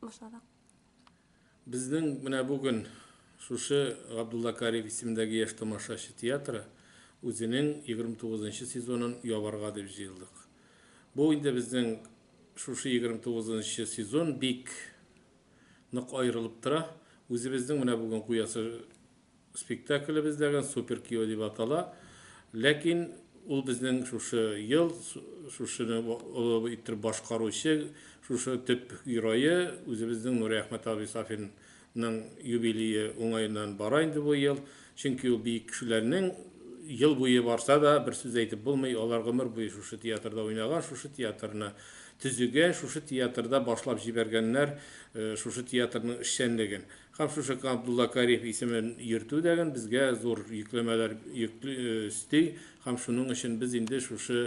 Башладык. Безнең менә бүген шушы Габдулла Кариев исемендәге яшь тамашачы театры үзенең 29 нчы сезонын ябарга дип җыелдык. Бу инде безнең шушы 29 нчы сезон бик нык аерылып тора. Үзебезнең менә бүген куясы Спектаклебездәге Супер кияү дип атала. Ләкин ул безнең шушы ел шушыны олы иттереп башкаручы, шушы төп герое, үзебезнең Нуриәхмәт абый Сафинның юбилее уңаеннан бара инде бу ел. Чөнки ул бөек кешеләрнең ел буе барса да, бер сүз әйтеп булмый, алар гомер буе шушы театрда уйнаган, шушы театрны төзегән, шушы театрда башлап җибәргәннәр шушы театрның эшчәнлеген. Һәм шушы Габдулла Кариев исемен йөртү дәген безгә зур йөкләмәләр йөкли, өсти, һәм шуның өчен без инде шушы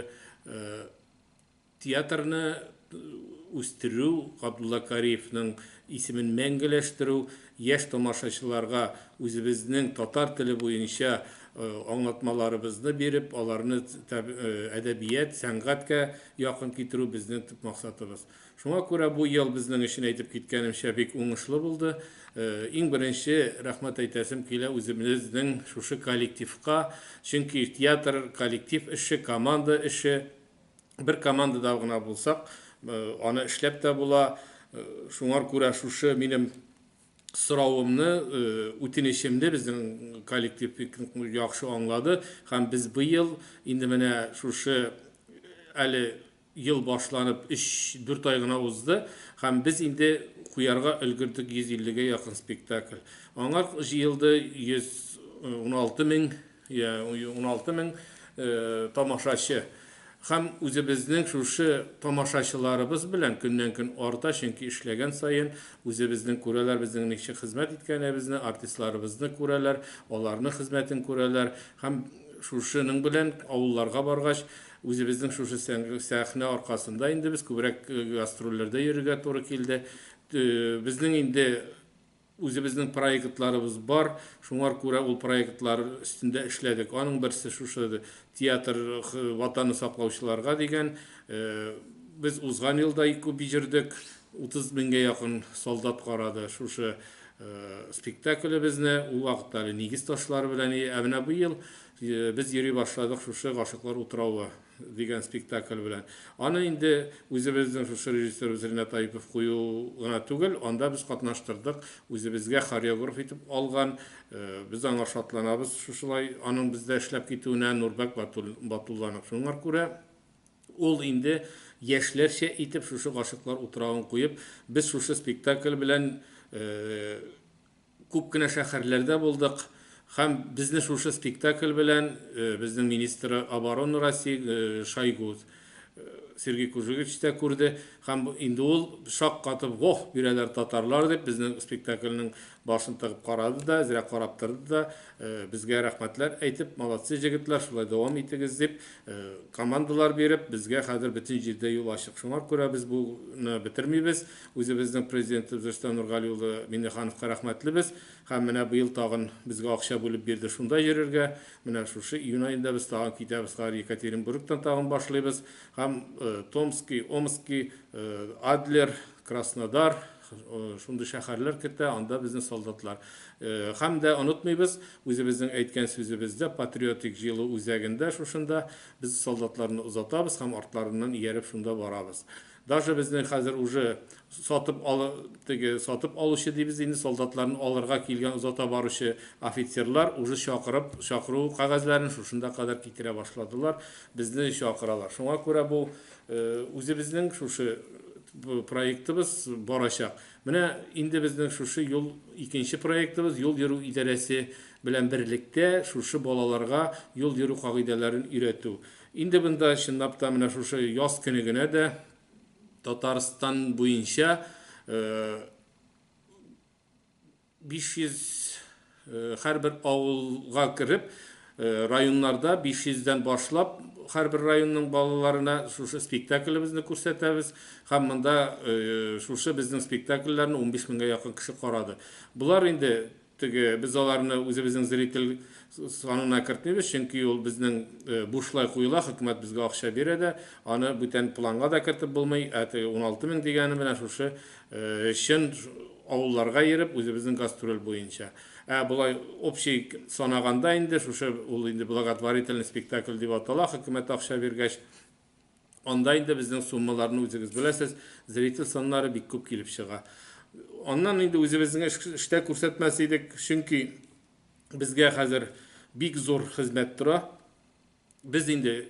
театрны үстерү, Габдулла Кариевның исемен мәңгеләштерү, яшь тамашачыларга үзебезнең татар теле буенча аңлатмаларыбызны биреп, аларны әдәбият, сәнгатькә якын китерү безнең төп максатыбыз. Шуңа күрә бу ел безнең өчен, әйтеп киткәнемчә, бик уңышлы булды. Иң беренче рәхмәт әйтәсем килә үзебезнең шушы коллективка, чөнки театр, коллектив эше, команда эше. Бер командада гына булсак, аны эшләп тә була. Шуңар күрә шушы минем соравымны, үтенечемне безнең коллектив бик яхшы аңлады һәм без быел инде менә шушы әле Ел башланып өч, дүрт ай гына узды, һәм без инде куярга өлгердек 150 гә якын спектакль. Аңар җыелды 116 мең, йә, 116 мең тамашачы. Һәм үзебезнең шушы тамашачыларыбыз белән көннән-көн арта, чөнки эшләгән саен үзебезнең күрәләр безнең ничек хезмәт иткәнебезне, артистларыбызны күрәләр, аларның хезмәтен күрәләр. Һәм шушының белән авылларга баргач, Үзебезнең шушы сәхнә аркасында инде без күбрәк гастрольләрдә йөрергә туры килде. Безнең инде үзебезнең проектларыбыз бар, шуңар күрә ул проектлар өстендә эшләдек. Аның берсе шушы театр Ватаны саклаучыларга дигән. Без узган ел да күп җөрдек, 30 меңгә якын солдат карады шушы спектаклебезне. Ул вакытта әле нигез ташлары белән, ә менә быел Без йөри башладык шушы Гашыклар утравы дигән спектакль белән. Аны инде үзебезнең шушы режиссерыбыз Ринат Аипов кую гына түгел, анда без катнаштырдык, үзебезгә хореограф итеп алган. Без аңа шатланабыз, шушылай аның бездә эшләп китүенә Нурбәк Батулланың. Шуңар күрә ул инде яшьләрчә итеп шушы Гашыклар утравын куеп, без шушы спектакль белән Күп кенә шәһәрләрдә булдык һәм безне шушы спектакль белән безнең министры обороны России Шойгу Сергей Кужевич тә күрде һәм инде ул шаккатып, вох, бирәләр татарлар дип, безнең спектакльнең башын тыгып карады да, әзрәк карап торды да, безгә рәхмәтләр әйтеп, молодцы, җегетләр, шулай дәвам итегез дип, командалар биреп, безгә хәзер бөтен җирдә юл ачык. Шуңа күрә без буны бетермибез. Үзебезнең Президентыбыз Рөстәм Нургали улы Миңнехановка рәхмәтлебез һәм менә быел тагын безгә акча бүлеп бирде шунда йөрергә. Менә шушы июнь аенда без тагын китәбез кар Екатеринбургтан тагын башлыйбыз һәм Томски, Омски, Адлер, Краснодар, шундый шәһәрләр кертә, анда безнең солдатлар. Һәм дә онытмыйбыз, үзебезнең әйткән сүзебездә патриотик җыелу үзәгендә шушында без солдатларны озатабыз һәм артларыннан ияреп шунда барабыз. Даже безнең хәзер уже сатып алы теге сатып алучы дибез инде солдатларны алырга килгән озата баручы офицерлар уже чакырып чакыру кәгазьләрен шушында кадәр китерә башладылар безне чакыралар шуңа күрә бу үзебезнең шушы проектыбыз барачак менә инде безнең шушы юл икенче проектыбыз юл йөрү идарәсе белән берлектә шушы балаларга юл йөрү кагыйдәләрен өйрәтү Инде монда чынлап та менә шушы яз көне генә дә Татарстан буенча 500 һәрбер авылга кереп, районнарда 500 дән башлап һәрбер районның балаларына шушы спектаклебезне күрсәтәбез һәм монда шушы безнең спектакльләрне 15 меңгә якын кеше карады. Болар инде Теге, без аларны үзебезнең зритель санына кертмибез, чөнки ул безнең бушлай куела, хөкүмәт безгә акча бирә дә, аны бүтән планга да кертеп булмый, ә теге уналты мең дигәне менә шушы чын авылларга йөреп, үзебезнең гастроль буенча. Ә болай общий санаганда инде, шушы ул инде благотворительный спектакль дип атала, хөкүмәт акча биргәч, Анда инде безнең суммаларны үзегез беләсез, зритель саннары бик күп килеп чыга. Аннан инде үзебезнең эштә күрсәтмәс идек, чөнки безгә хәзер бик зур хезмәт тора. Без инде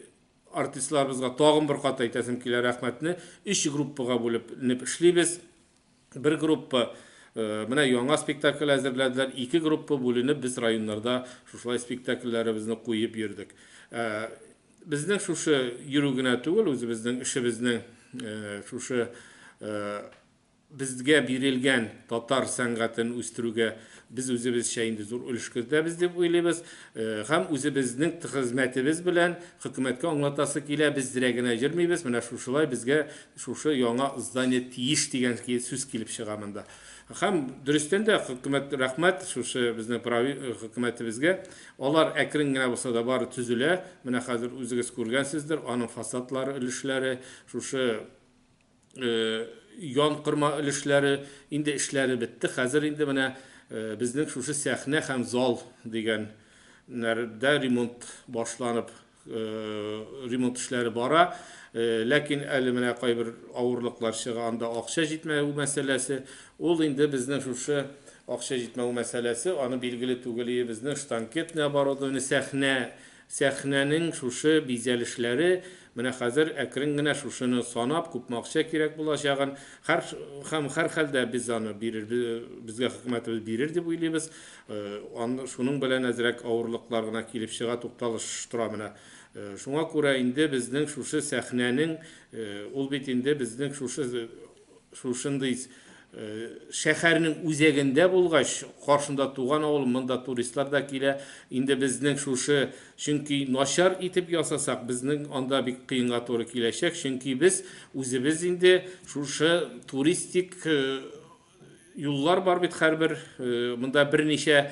артистларыбызга тагын бер кат әйтәсем килә рәхмәтне. Өч группага бүлеп эшлибез. Бер группа менә яңа спектакль әзерләделәр, ике группа бүленеп без районнарда шушылай спектакльләребезне куеп йөрдек. Безнең шушы йөрү генә түгел, үзебезнең эшебезнең шушы безгә бирелгән татар сәнгатен үстерүгә без үзебезчә инде зур өлеш кертәбез дип уйлыйбыз һәм үзебезнең хезмәтебез белән хөкүмәткә аңлатасы килә, без зрә генә йөрмибез, менә шушылай безгә Шушы яңа здание тиеш дигән сүз килеп чыга монда. Һәм дөрестән дә хөкүмәт рәхмәт шушы безнең прави э, хөкүмәтебезгә. Алар әкрен генә булса да бары төзелә. Менә хәзер үзегез күргәнсездер, аның фасадлары өлешләре, шушы э, ян кырма өлешләре инде эшләре бетте. Хәзер инде менә э, безнең шушы сәхнә һәм зал дигән нәрдә ремонт башланып ремонт эшләре бара. Ләкин әле менә кайбер авырлыклар чыга, анда акча җитмәве мәсьәләсе. Ул инде безнең шушы акча җитмәве мәсьәләсе, аны билгеле түгел өебезнең штанкетный оборудование, сәхнә, сәхнәнең шушы бизәлешләре, менә хәзер әкрен генә шушыны санап, күпме акча кирәк булачагын, һәр, һәм һәрхәлдә без аны бирер, безгә хөкүмәтебез бирер дип уйлыйбыз. Шуның белән әзрәк авырлыклар гына килеп чыга, тукталыш тора менә. Шуңа күрә инде безнең шушы сәхнәнең, ул бит инде безнең шушы шушындый шәһәрнең үзәгендә булгач, каршында туган авыл, монда туристлар да килә. Инде безнең шушы, чөнки начар итеп ясасак, безнең анда бик кыенга туры киләчәк, чөнки без үзебез инде шушы туристик юллар бар бит хәрбер монда берничә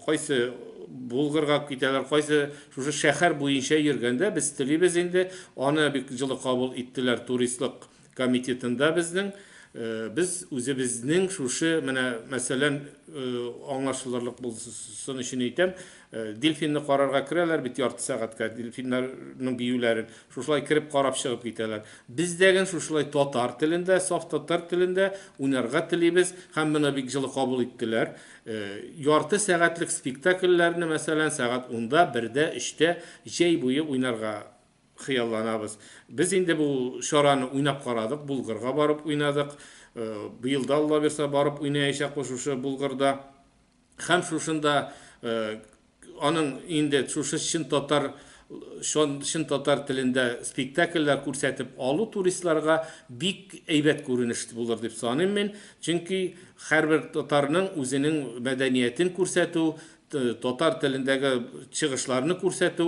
кайсы Булгырга китәләр, кайсы шушы шәһәр буенча йөргәндә без телибез инде, аны бик җылы кабул иттеләр туристлык комитетында безнең. Без үзебезнең шушы менә мәсәлән аңлашылырлык булсын өчен әйтәм, дельфинны карарга керәләр бит ярты сәгатькә дельфиннарның биюләрен. Шушылай кереп карап чыгып китәләр. Бездәген шушылай татар телендә, саф татар телендә уйнарга телибез һәм моны бик җылы кабул иттеләр. Ярты сәгатьлек спектакльләрне, мәсәлән, сәгать унда, бердә, өчтә җәй буе уйнарга хыялланабыз. Без инде бу чараны уйнап карадык, Булгырга барып уйнадык. Быел да, Аллабирса, барып уйнаячакбыз шушы Булгырда. Һәм шушында аның инде шушы чын татар чын татар телендә спектакльләр күрсәтеп алу туристларга бик әйбәт күренеш булыр дип саныйм мин. Чөнки һәрбер татарның үзенең мәдәниятен күрсәтү, татар телендәге чыгышларны күрсәтү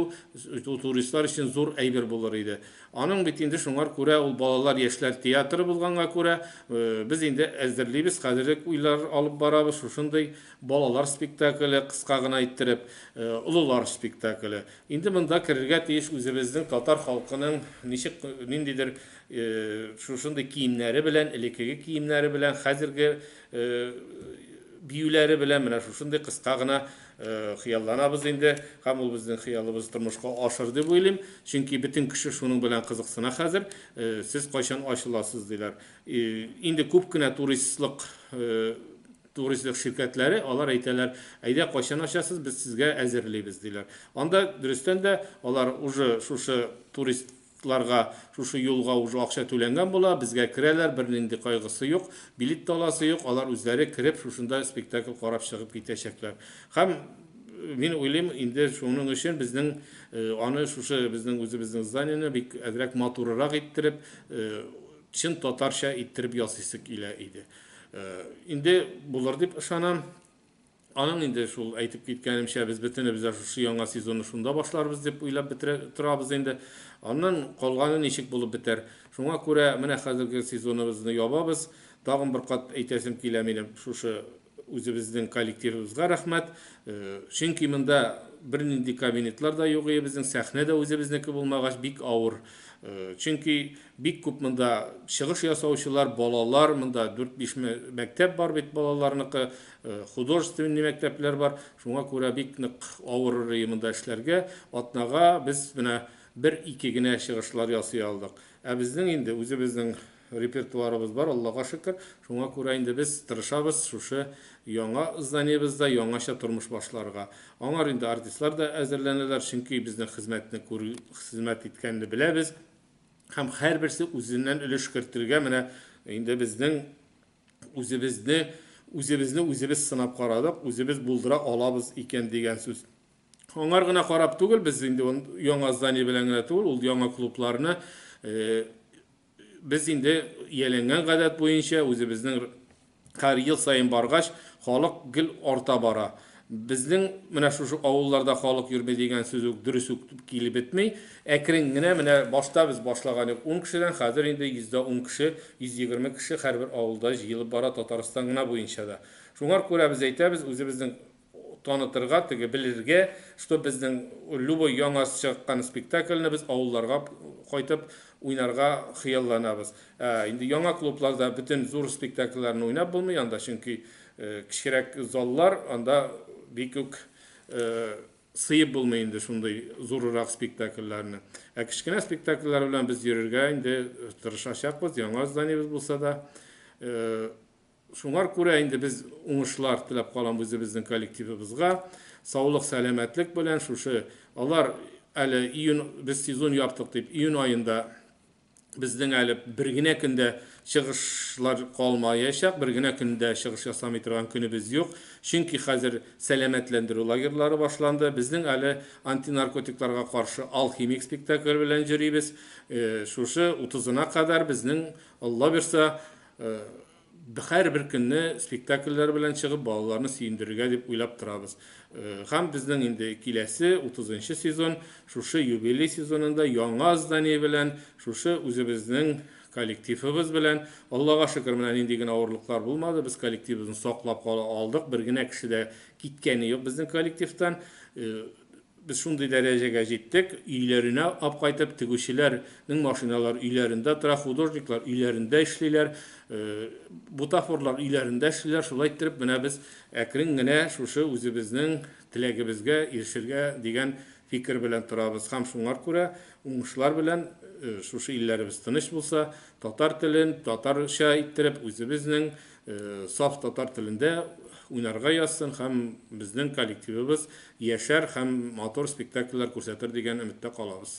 туристлар өчен зур әйбер булыр иде. Аның бит инде шуңар күрә ул балалар яшьләр театры булганга күрә, без инде әзерлибез, хәзер үк уйлар алып барабыз, шушындый балалар спектакле, кыска гына иттереп, олылар спектакле. Инде монда керергә тиеш үзебезнең татар халкының ничек, ниндидер шушындый киемнәре белән, элекеге киемнәре белән, хәзерге биюләре белән, менә шушындый кыска гына Хыялланабыз инде һәм ул безнең хыялыбызны тормышка ашыр дип уйлыйм, чөнки бөтен кеше шуның белән кызыксына хәзер. Сез кайчан ачыласыз, диләр. Инде күп кенә туристлык туристлык ширкәтләре, алар әйтәләр, әйдә, кайчан ачасыз, без сезгә әзерлибез, диләр. Анда, дөрестән дә, алар уже шушы турист Ларга шушы юлга уже акча түләнгән була, безгә керәләр, бернинди кайгысы юк, билет тә аласы юк, алар үзләре кереп шушында спектакль карап чыгып китәчәкләр. Һәм мин уйлыйм, инде шуның өчен безнең аны шушы безнең үзебезнең зданиене бик әзрәк матурырак иттереп, чын татарча иттереп ясыйсы килә иде. Инде булыр дип ышанам. Аның инде шул, әйтеп киткәнемчә, без бөтенебез дә шушы яңа сезонны шунда башларбыз дип уйлап бетерә торабыз инде. Аннан калганы ничек булып бетәр. Шуңа күрә менә хәзерге сезоныбызны ябабыз. Тагын бер кат әйтәсем килә минем шушы үзебезнең коллективыбызга рәхмәт. Чөнки монда бернинди кабинетлар да юк иде безнең, сәхнә дә үзебезнеке булмагач бик авыр. Чөнки бик күп монда чыгыш ясаучылар, балалар, монда 4-5 мәктәп бар бит балаларныкы. Э, художественный мәктәпләр бар шуңа күрә бик нык авыр режимында эшләргә атнага без менә бер ике генә чыгышлар ясый алдык ә безнең инде үзебезнең репертуарыбыз бар аллага шөкер шуңа күрә инде без тырышабыз шушы яңа зданиебызда яңача тормыш башларга аңар инде артистлар да әзерләнәләр чөнки безнең хезмәтне күр хезмәт иткәнне беләбез һәм һәрберсе үзеннән өлеш кертергә менә инде безнең Үзебезне, үзебезне үзебез сынап карадык, үзебез булдыра алабыз икән дигән сүз. Аңар гына карап түгел, без инде яңа здание белән генә түгел, ул яңа клубларны без инде ияләнгән гадәт буенча үзебезнең һәр ел саен баргач, халык гел арта бара. Безнең менә шушы авылларда халык йөрми дигән сүз үк дөрес үк килеп бетми. Әкрен генә, менә башта без башлаган идек ун кешедән, хәзер инде йөздә ун кеше, 120 кеше һәрбер авылда җыелып бара, Татарстан гына буенча да. Шуңар күрә без әйтәбез, үзебезне танытырга, теге белергә, что безнең любой яңа чыккан спектакльне без авылларга кайтып уйнарга хыялланабыз. Ә инде яңа клубларда бөтен зур спектакльләрне уйнап булмый, анда чөнки Кечкерәк заллар, анда бик үк сыеп булмый инде шундый зурырак спектакльләрне. Ә кечкенә спектакльләр белән без йөрергә инде тырышачакбыз, яңа зданиебез булса да. Шуңар күрә инде без уңышлар теләп калам үзебезнең коллективыбызга. Саулык, сәламәтлек белән шушы алар әле июнь без сезон яптык дип июнь аенда безнең әле бер генә көндә чыгышлар калмаячак, бер генә көндә чыгыш ясамый торган көнебез юк. Чөнки хәзер сәламәтләндерү лагерьлары башланды. Безнең әле антинаркотикларга каршы алхимик спектакль белән йөрибез. Шушы 30-на кадәр безнең, Алла бирса, Һәрбер көнне спектакльләр белән чыгып, балаларны сөендерергә дип уйлап торабыз. Һәм безнең инде киләсе, утызынчы сезон, шушы юбилей сезонында яңа здание белән, шушы үзебезнең коллективыбыз белән, Аллага шөкер, менә нинди генә авырлыклар булмады, без коллективыбызны саклап кала алдык, бер генә кеше дә киткәне юк безнең коллективтан. Без шундый дәрәҗәгә җиттек, өйләренә ап кайтып, тегүчеләр нең машиналары өйләрендә тора, художниклар өйләрендә эшлиләр, бутафорлар өйләрендә эшлиләр, шулай иттереп менә без әкрен генә шушы үзебезнең теләгебезгә ирешергә дигән фикер белән торабыз һәм шуңар күрә уңышлар белән шушы илләребез тыныч булса, татар телен татарча иттереп, үзебезнең саф татар телендә уйнарга язсын һәм безнең коллективыбыз яшәр һәм матур спектакльләр күрсәтер дигән өметтә калабыз.